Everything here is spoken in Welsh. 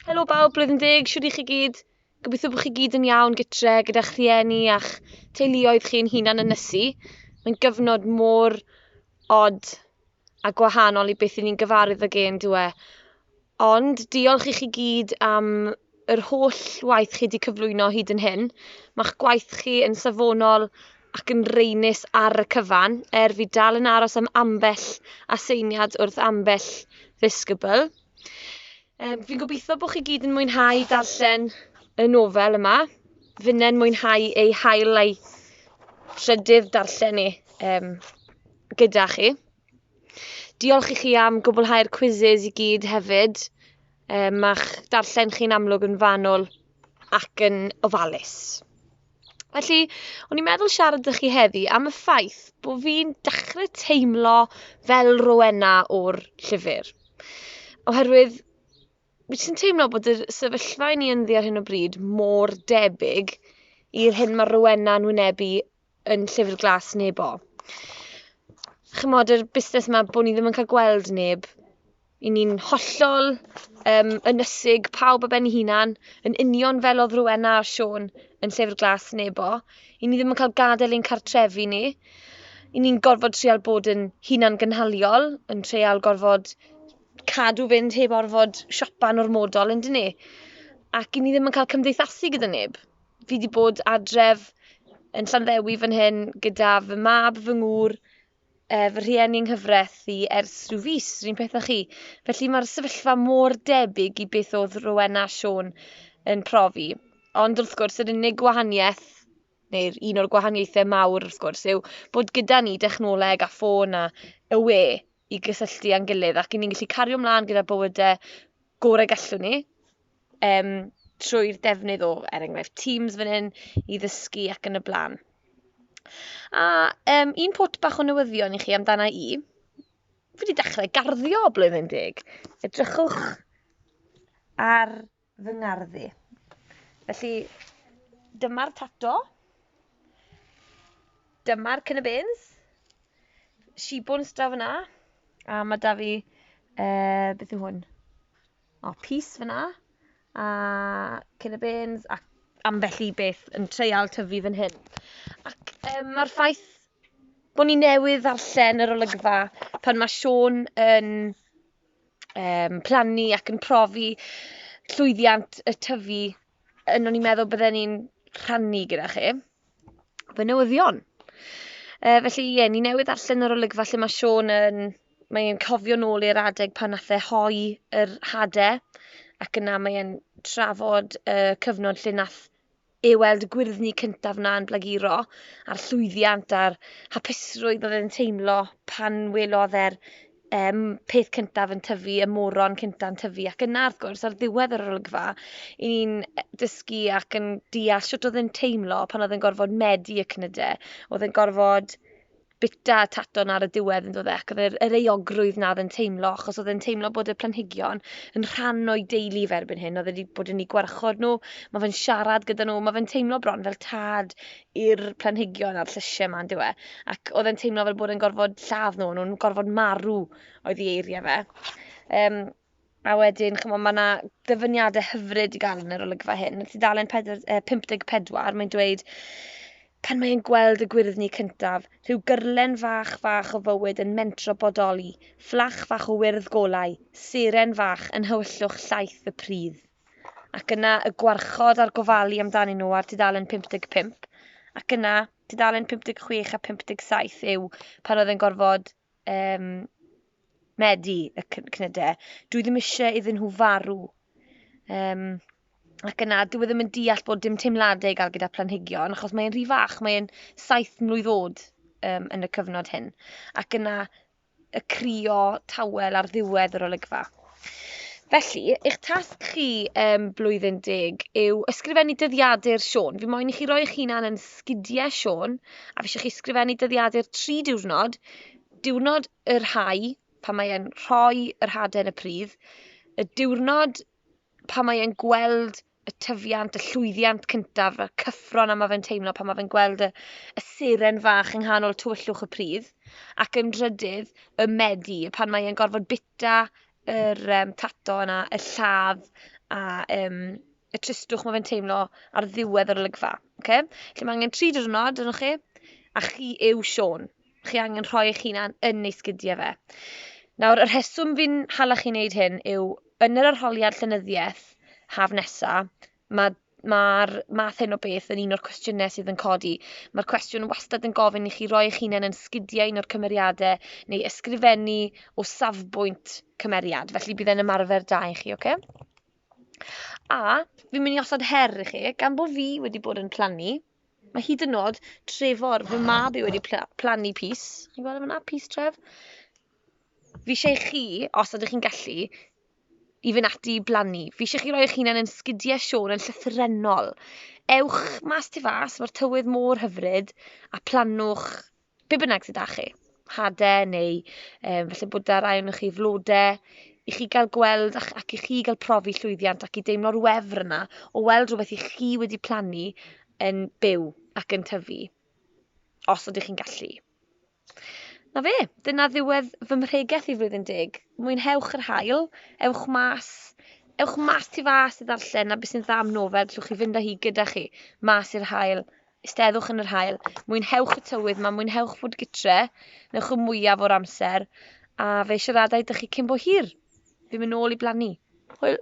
Helo bawb, blwyddyn deg, siwr i chi gyd. Gobeithio bod chi gyd yn iawn gytre gyda'ch rhieni a'ch teuluoedd chi'n hunan yn nysu. Mae'n gyfnod mor od a gwahanol i beth i ni'n gyfarwydd ag e'n dwe. Ond diolch i chi gyd am yr holl waith chi 'di cyflwyno hyd yn hyn. Mae'ch gwaith chi yn safonol ac yn reinus ar y cyfan, er fi dal yn aros am ambell aseiniad wrth ambell ddisgybl. Um, fi'n gobeithio bod chi gyd yn mwynhau darllen y nofel yma. Fynnau'n mwynhau ei hael a'i trydydd darllen ni um, gyda chi. Diolch i chi am gwblhau'r quizzes i gyd hefyd. Yy, ma'ch darllen chi'n amlwg yn fanwl ac yn ofalus. Felly, o'n i'n meddwl siarad â chi heddi am y ffaith bod fi'n dechrau teimlo fel Rowena o'r llyfr. Oherwydd, fi sy'n teimlo bod y sefyllfa i ni ynddi ar hyn o bryd mor debyg i'r hyn mae Rowena yn wynebu yn Llyfr Glas Nebo. Chimod, yr busnes 'ma bo' ni ddim yn cael gweld neb. 'Y ni'n hollol yym ynysig, pawb ar ben 'i hunan, yn union fel o'dd Rowena a Siôn yn Llyfr Glas Nebo. 'Y ni ddim yn cael gad'el ein cartrefi ni. 'Y ni'n gorfod treial bod yn hunan-gynhaliol, yn treial gorfod cadw fynd heb orfod siopa'n ormodol, on'd 'yn ni? Ac 'yn ni ddim yn cael cymdeithasu gyda neb. fi wedi bod adref yn Llanddewi fan hyn gyda fy mab, fy ngŵr, uh, fy rhieni yng nghyfraith i ers rhyw fus, rhywun peth â chi. Felly mae'r sefyllfa mor debyg i beth oedd Rowena a Siôn yn profi. Ond wrth gwrs, yr unig gwahaniaeth, neu'r un o'r gwahaniaethau mawr wrth gwrs, yw bod gyda ni dechnoleg a ffôn a y we i gysylltu â'n gilydd ac i ni'n gallu cario ymlaen gyda bywydau gorau gallwn ni, um, trwy'r defnydd o, er enghraifft, Teams fan hyn i ddysgu ac yn y blaen. A um, un pot bach o newyddion i chi amdana i. Fi wedi dechrau garddio blwyddyn deg. Edrychwch ar fy ngarddi. Felly, dyma'r tato. Dyma'r cynnybyns. Shibwns draw fyna. A mae da fi, uh, beth yw hwn? O pys fyna. A cyn y bêns ac ambell i beth yn treial tyfu fan hyn. Ac um, mae'r ffaith bod ni newydd ddarllen yr olygfa pan mae Sean yn um, plannu ac yn profi llwyddiant y tyfu yn o'n i'n meddwl bydden ni'n rhannu gyda chi. fy newyddion. Uh, felly, ie, yeah, ni newydd allan yr olygfa lle mae Sean yn... Mae e'n cofio nôl i'r adeg pan nath e hoi yr hade, ac yna mae e'n trafod y uh, cyfnod lle nath ei weld y gwyrddni cyntaf na'n blaguro, a'r llwyddiant a'r hapusrwydd oedd e'n teimlo pan welodd e'r um, peth cyntaf yn tyfu, y moron cyntaf yn tyfu, ac yna, wrth gwrs, ar ddiwedd yr olygfa, i ni'n e, dysgu ac yn deall sut oedd yn teimlo pan oedd yn gorfod medu y cnydau, oedd yn gorfod bita taton ar y diwedd yn dod ac oedd yr, yr eogrwydd na oedd yn teimlo, achos oedd yn teimlo bod y planhigion yn rhan o'i deulu fe erbyn hyn, oedd wedi bod yn ei gwarchod nhw, mae fe'n siarad gyda nhw, mae fe'n teimlo bron fel tad i'r planhigion a'r llysiau yma yndyw e? Ac oedd e'n teimlo fel bod e'n gorfod lladd nhw, nhw'n gorfod marw oedd i eiriau fe. Um, a wedyn, chymod, mae yna ddyfyniadau hyfryd i gael yn yr olygfa hyn. Yn tudalen 54, mae'n dweud, pan mae'n gweld y gwyrddni cyntaf, rhyw gyrlen fach fach o fywyd yn mentro bodoli, fflach fach o wyrdd golau, seren fach yn hywyllwch llaeth y pridd. ac yna y gwarchod a'r gofalu amdanyn nhw ar dudalen 55, ac yna dudalen 56 a 57 yw pan oedd e'n gorfod um, medu y cnydau. Dwi ddim eisiau iddyn nhw farw. Um, ac yna, dwi e ddim yn deall bod dim teimladau i gael gyda planhigion, achos mae'n rhy fach, mae'n saith mlwydd oed um, yn y cyfnod hyn. Ac yna, y crio tawel ar ddiwedd yr olygfa. Felly, eich tasg chi um, blwyddyn deg yw ysgrifennu dyddiadur Sean. Fi moyn i chi roi eich hunan yn sgidiau Sean, a fi eisiau chi ysgrifennu dyddiadur tri diwrnod, diwrnod yr hau, pan mae'n rhoi yr haden y pridd, y diwrnod pan mae'n gweld y tyfiant, y llwyddiant cyntaf, y cyffron a mae fe'n teimlo pan mae fe'n gweld y, y seren fach yng nghanol tywyllwch y pridd, ac yn drydydd, y medi, pan mae e'n gorfod bita yr um, tato yna, y lladd a um, y tristwch mae fe'n teimlo ar ddiwedd yr olygfa. Okay? Lle mae angen tri diwrnod yno chi, a chi yw Sean. chi angen rhoi eich hunan yn ei sgidiau fe. Nawr, y rheswm fi'n hala chi wneud hyn yw yn yr arholiad llenyddiaeth haf nesa, mae'r ma math hyn o beth yn un o'r cwestiynau sydd yn codi. Mae'r cwestiwn wastad yn gofyn i chi roi eich hunain yn sgidiau un o'r cymeriadau neu ysgrifennu o safbwynt cymeriad. Felly bydd e'n ymarfer da i chi, oce? Okay? A fi'n mynd i osod her i chi, gan bod fi wedi bod yn plannu, Mae hyd yn nod Trefor, fy mab i wedi plannu pys. Chi'n gweld yma, pys tref? Fi eisiau chi, os ydych chi'n gallu, i fynd ati i blannu. Fi eisiau chi roi eich hunain yn sgidiau Siôn yn llythrenol. Ewch mas tu fas, mae'r tywydd mor hyfryd, a plannwch be bynnag sydd â chi, hadau neu um, felly bod da rai o'n chi flodau, i chi gael gweld ac, ac i chi gael profi llwyddiant ac i deimlo'r wefr yna o weld rhywbeth i chi wedi plannu yn byw ac yn tyfu, os ydych chi'n gallu. Na fe, dyna ddiwedd fy mhregeth i flwyddyn deg. Mwynhewch yr hael, ewch mas, ewch mas tu fas i ddarllen a beth sy'n dda am nofel, gallwch chi fynd â hi gyda chi, mas i'r hael Eisteddwch yn yr haul, mwynhewch y tywydd ma, mwynhewch fod gytre, newch y mwyaf o'r amser, a fe siaradai dych chi cyn bo hir. Fi'n mynd nôl i blannu. Hwyl!